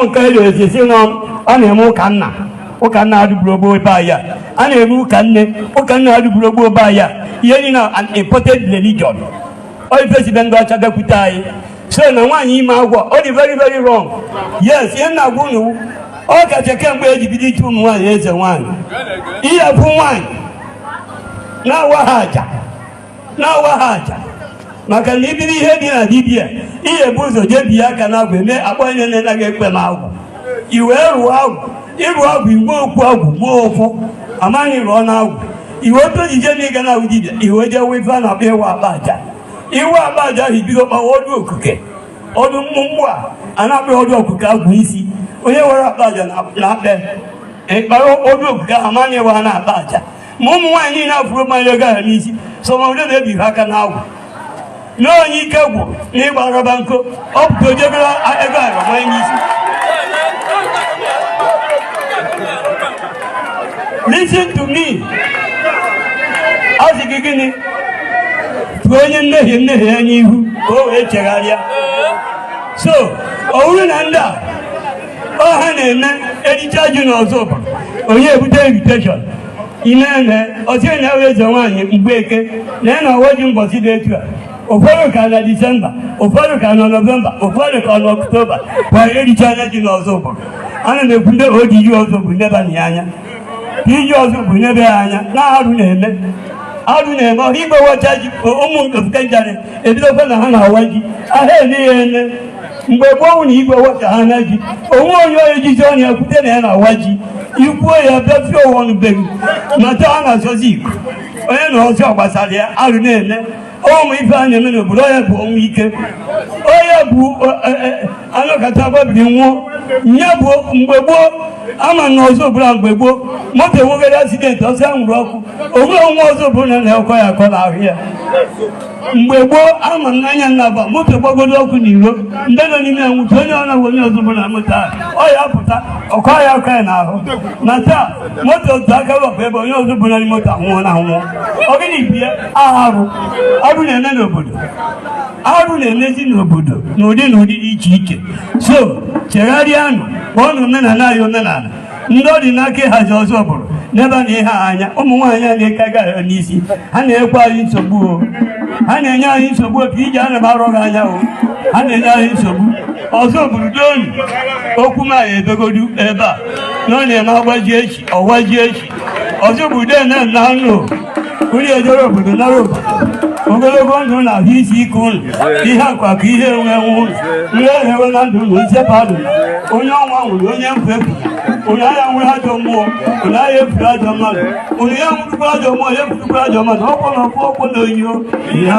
nke e ga-esi si nọ a na-eme ụka nna ụka nna adịburo gboo be anyị a na-eme ụka nne ụka nna adịburo gboo be anyị ihe niile an imported religion ọ ife si be ndị ọcha bịakwute anyị so na nwaanyị ime agwụ ọ dị very very wrong yes ihe m na-agwa unu ọkacha kemgbe eji bido ichi ụmụ nwaanyị eze nwaanyị ihe bụ nwaanyị na-awa ha aja na-awa ha aja maka na ibiri ihe dị na dibia i ya-ebu ụzọ jee bie aka n'agwụ eme akpọ onye na-enaghị ekpe m agwụ i wee rụọ agwụ ịrụ agwụ i wee kwu agwụ mụọ ụfụ a ma ị rụọna agwụ i wee otu ojije na ịga na agwụ dibia i wee jee wee ife a na-akpọ ịwa akpa aja ị wa akpa aja ahụ i bido kpawa ọdụ okike ọdụ mmụmụ a a na-akpọ ọdụ okike agwụ isi onye wara akpa aja na-akpa ị kpara ọdụ okike ahụ a ma ị waana akpa aja ma ụmụ nwaanyị niile afụ manye ego ahụ n'isi some of them ebighị aka n'agwụ na onye ike gwụ na ịgba rọba nko ọ pụta o je goro ego ahụ manye n'isi listen to me a sị gị gịnị tụọ onye mmehie mmehie ya n'ihu ka o wee chegharịa so ọ bụrụ na ndị a ọ ha na-eme e richa ji na Ozubulu onye ebute invitation ime eme ọ sị na ebe eze nwaanyị Mgbeke na ya na-awa ji mbọsị dị etu a ụfọdụ ka na disemba ụfọdụ ka na nọvemba ụfọdụ ka na ọktoba kwa e richaana ji na Ozubulu ana m ekwu ndị ọ dịrị Ozubulu nebanụ ya anya PG Ozubulu neba ya anya na arụ na-eme arụ na-eme ọ bụrụ igwe wacha ji ụmụ ofeke njarị ebidokwa na ha na-awa ji aha ele ya ele mgbe gboo na igwe wachaana ji o nwee onye onye jizi ọnụ ya kwute na ya na-awa ji i kwuo ya bịafie ụwa ọnụ be m mata a na-azọzi iko onye na ọzọ gbasara ya arụ na-eme ụmụ ife a na-eme n'obodo onye bụ ọnwụ ike onye bụ e, e, anọkata gbabiri nwụọ onye bụ mgbe gboo ama na Ozubulu mgbe gboo moto enwegara asidenti ọsọ ya nwụrụ ọkụ o nwe onye Ozubulu ọ na-akọ ya ọkọ n'ahụ ya mgbe gboo ama na anya nnaba moto gbagodo ọkụ na iro ndị nọ n'ime ya nwụta onye ọ na-agwa onye Ozubulu nọ moto ahụ ọ ya-apụta ọ kọ ya ọkọ ya n'ahụ na taa moto otu aka wepụ ebe onye Ozubulu nọ moto anwụọ na anwụọ ọ gịnị bie arụ arụ na-eme n'obodo arụ na-emezi n'obodo n'ụdị n'ụdị dị iche iche so chegharịanụ kpọọnụ omenala anyị omenala ndị ọ dị n'aka ịhazi Ozubulu nebanụ ihe a anya ụmụ nwaanyị a na-eke ego ahụ n'isi ha na-enyekwa anyị nsogbu o ha na-enye anyị nsogbu o PG ana m arọ gị anya o ha na-enye anyị nsogbu Ozubulu ndonụ okwu m ya ebegodu ebe a na ọ na-eme agbaji echi ọgbaji echi Ozubulu dena na anụ onye ejere obodo nara obodo ogologo ndụ na ahụ isi ike unu ihe akụ akụ ihe enwe enwe unu nri ehewe na ndụ unu nchekwa ndụ onye ọnwụ anwụrụ onye mfu efu onye agha nwere ajọ mmụọ onye agha efuru ajọ mmadụ onye ya nwụrụkwa ajọ mmụọ ya efurukwa ajọ mmadụ ọkpọ na ọkpọ na onyinyo ya